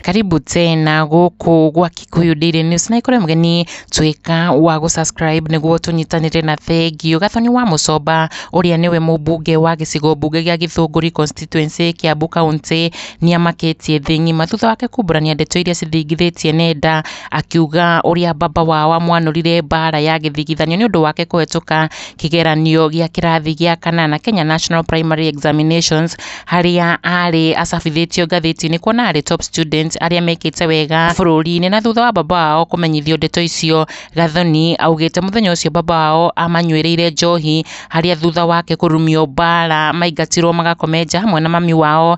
Karibu tena gũkũ gwa Kikuyu Daily News na ikore mgeni tuika wa gu subscribe niguo tunyitanire na thengio gathoni wa mucomba uria niwe mubunge wa gicigo mbunge gia Githunguri constituency Kiambu county niamakitie thi ng'ima thutha wake kumburania ndeto iria cithingithitie nenda Akiuga ũrĩa baba wao amwanũrire mbaara ya gĩthigithanio nĩ ũndũ wake kũhetũka kĩgeranio gĩa kĩrathi gĩa kanana Kenya National Primary Examinations harĩa arĩ acabithĩtio ngathĩti-inĩ kuona arĩ top student arĩa mekĩte wega bũrũri-inĩ. Na thutha wa baba wao kũmenyithio ndeto icio, Gathoni augĩte mũthenya ũcio baba wao amanyuĩrĩire njohi harĩa thutha wake kũrumio mbaara maingatirwo magakome nja hamwe na mami wao.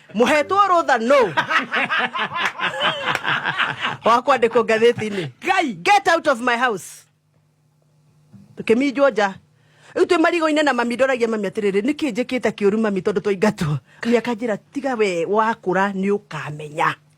muhetwo rutha no wa kwandikwo ngathĩti-inĩ ngai get out of my house tũkĩminjwo nja rĩu twĩ marigũ-inĩ na mami ndoragia mami atĩrĩrĩ nĩ kĩ njĩkĩte kĩũru mami tondũ twaingatwo mami akanjĩra tiga we wakũra nĩ ũkamenya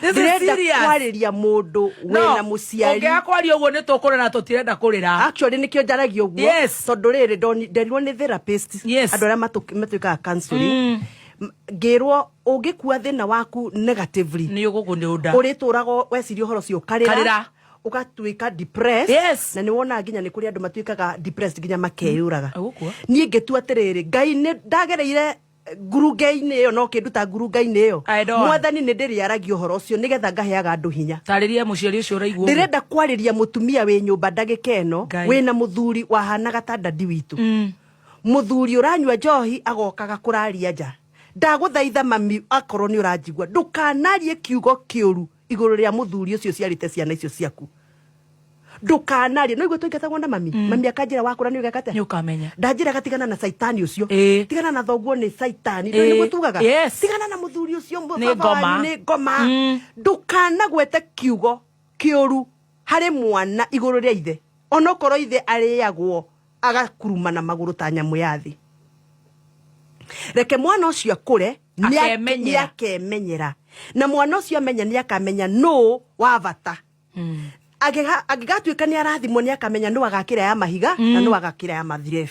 This is ndĩrenda serious. kwarĩria mũndũ wĩna No, mũciari ũngĩaga kwaria ũguo nĩ tũkũrĩra na tũtirenda kũrĩra actually nĩkĩo njaragia ũguo Yes. tondũ rĩrĩ ndoni- nderirwo nĩ therapist Yes. andũ arĩa matũ- matwĩkaga counseling M- ngĩrwo ũngĩkua thĩna waku negatively nĩ ũgũkũ nĩ ũnda ũrĩtũraga weciria ũhoro ũcio Karĩra. ũkarĩra ũgatuĩka depressed Yes. na nĩ wonaga nginya nĩ kũrĩ andũ matuĩkaga depressed nginya makeyũraga Agũkua. niĩ ngĩtua atĩrĩrĩ ngai nĩ ndagereire ngurunga-inĩ ĩyo no kĩnduta ngurunga-inĩ ĩyo I don't. mwathani nĩ ndĩrĩaragia ũhoro ũcio nĩgetha ngaheaga andũ hinya tarĩria mũciari ũcio ũraigua ũguo. ndĩrenda kwarĩria mũtumia wĩ nyũmba ndagĩka ĩno Ngai. wĩna mũthuri wahanaga ta dadi witũ Mm. mũthuri ũranyua njohi agokaga kũraria nja ndagũthaitha mami akorwo nĩ ũranjigua ndũkanarie kiugo kĩũru iguru ria muthuri ucio ciarite ciana icio ciaku ndukanarie no igwe twaingatagwo na mami mm. mami akanjira wakura ni ugekate ni ukamenya ndanjira gatigana na saitani ucio e. tigana na thoguo ni saitani e. niguo tugaga yes. tigana na muthuri ucio ni ngoma ni ngoma mm. ndukanagwete kiugo kiuru hari mwana iguru ria ithe onokorwo ithe ariagwo agakuruma na maguru ta nyamu ya thi reke mwana ucio akure akemenyera akemenyera na mwana ũcio amenya nĩ akamenya nũ wa bata angĩgatuĩka nĩ arathimwo nĩ akamenya nũ agakĩra ya mahiga na nũ agakĩra ya mathirebu